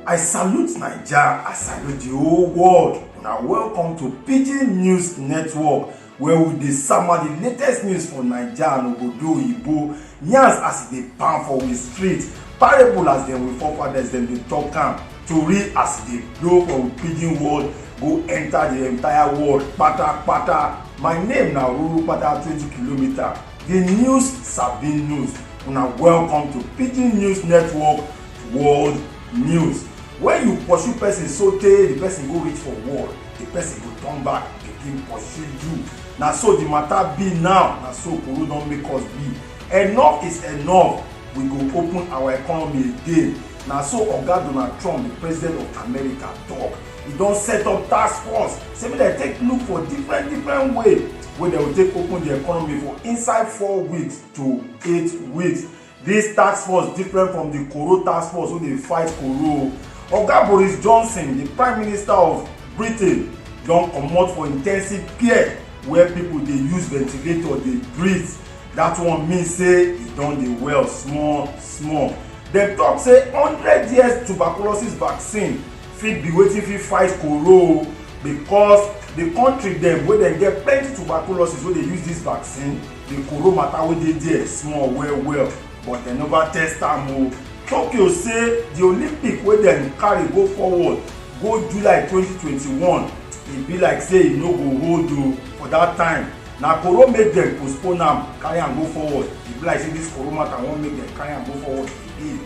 I salute Naija, I salute the whole world. Una welcome to Pidgin News Network where we dey sama the latest news for Naija and obodo oyibo, yarns as e dey pound for we street, parable as dem we forefathers dem dey talk am. Tori as e dey blow from pidgin world go enter the entire world patapata. My name na Ruru Pata 20 kilometer. The news sabi news. Una welcome to Pidgin News Network World News. When you pursue person so tey the person go reach for wall, the person go turn back begin pursue you. Na so the matter be now. Na so Koro don make us be. Enough is enough. We go open our economy again. Na so Oga Donald Trump, di President of America tok. E don set up task force say make dem take look for different different way wey dem go take open di economy for inside four weeks to eight weeks. Dis task force different from di Koro task force wey dey fight Koro. Oga Boris Johnson, di Prime Minister of Britain don comot for intensive care where pipo dey use ventilator dey breathe. Dat one mean say e don dey well small small. Dem talk say hundred years tuberculosis vaccine fit be wetin fit fight koro o because the country dem wey dem get plenty tuberculosis wey dey use this vaccine the koro matter wey dey there small well well but dem never test am o. Tokyo say the Olympic wey dem carry go forward go July twenty twenty one e be like say e no go hold o for that time na koro make dem postpone am carry am go forward e be like say dis koro matter wan make dem carry am go forward again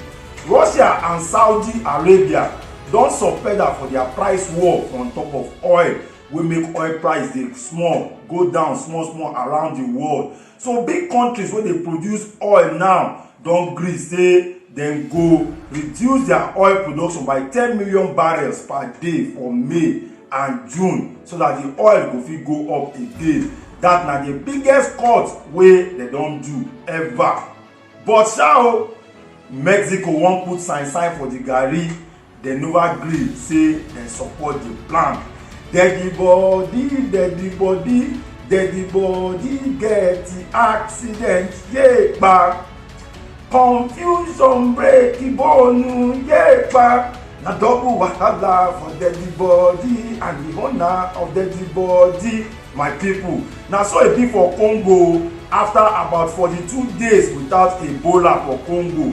russia and saudi arabia don suspend am for their price war on top of oil wey make oil price dey small go down small small around the world so big countries wey dey produce oil now don gree say dem go reduce their oil production by ten million barrels per day for may and june so that the oil go fit go up again that na the biggest cut wey dem don do ever but sha o mexico wan put sign sign for the garri Dem nova gree say dem support di plan. Deadi bodi, deadi bodi, deadi bodi get accident yepa. Confusion break bonu yepa. Na double wahala for deadi bodi and di owner of deadi bodi. My pipo, na so e be for Congo afta about forty two days without Ebola for Congo.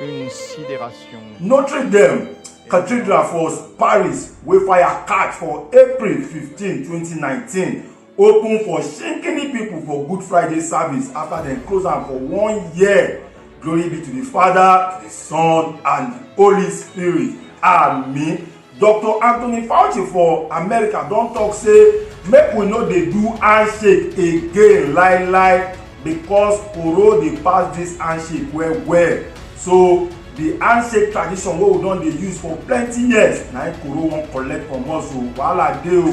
une sidération. Notre Dame Cathedral for Paris wey fire catch for April 15, 2019 open for shikini people for Good Friday service after dem close am for one year. Glory be to the Father, to the Son, and the Holy Spirit. Amen. Doctor Anthony Fauci for America don talk say make we no dey do handshake again lie lie because Oro dey pass this handshake well well. So the handshake tradition wey we don dey use for plenty years na im Koro wan collect from us o wahala dey o.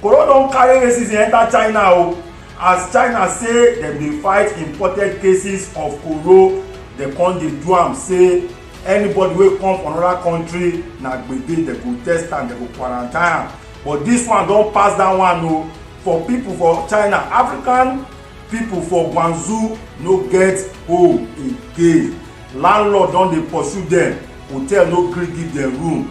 Koro don carry racism enter China o as China say dem dey fight imported cases of Koro dem come dey do am say anybody wey come from another country na gbege dem go test am dem go quarantine am but this one don pass that one o oh. for people for china african people for guangzhou no get home again landlord don dey pursue dem hotel no gree give dem room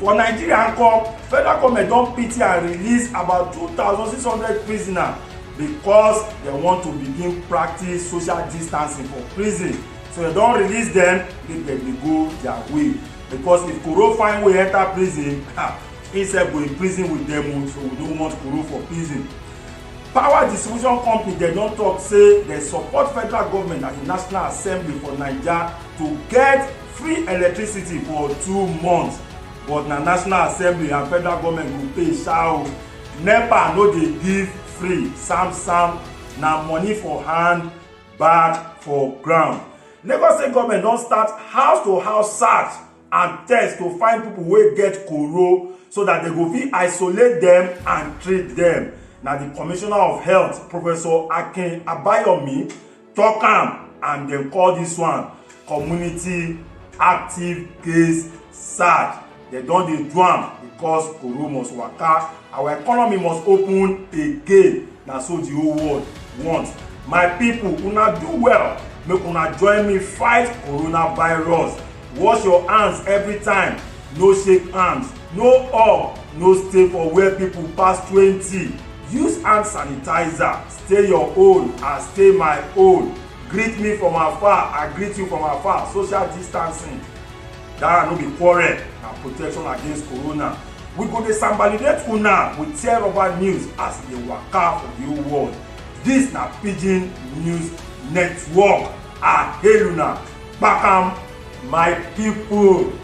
for nigeria nko federal goment don pity and release about 2600 prisoners because dem want to begin practice social distancing for prison so dem don release dem make dem dey go their way because if koro find way enter prison he sef go in prison with dem o so we no want koro for prison power distribution company dem don talk say dem support federal government and the national assembly for naija to get free electricity for two months but na national assembly and federal government go pay sha o nepa no dey give free sam sam na money for hand bad for ground lagos state government don start house to house search and test to find people wey get koro so that they go fit isolate them and treat them na the commissioner of health professor akin abayomi talk am and dem call this one community active case search dem don dey do am because koro must waka our economy must open again na so the whole world want my people una do well make una join me fight coronavirus wash your hands every time no shake hands no hug no stay for where people pass twenty use hand sanitizer stay your own and stay my own greet me from afar i greet you from afar social distancing that no be quarrel na protection against corona we go dey sambalidate una with tear rubber news as e dey waka for the whole world dis na pidgin news network i hail una kpakam my people.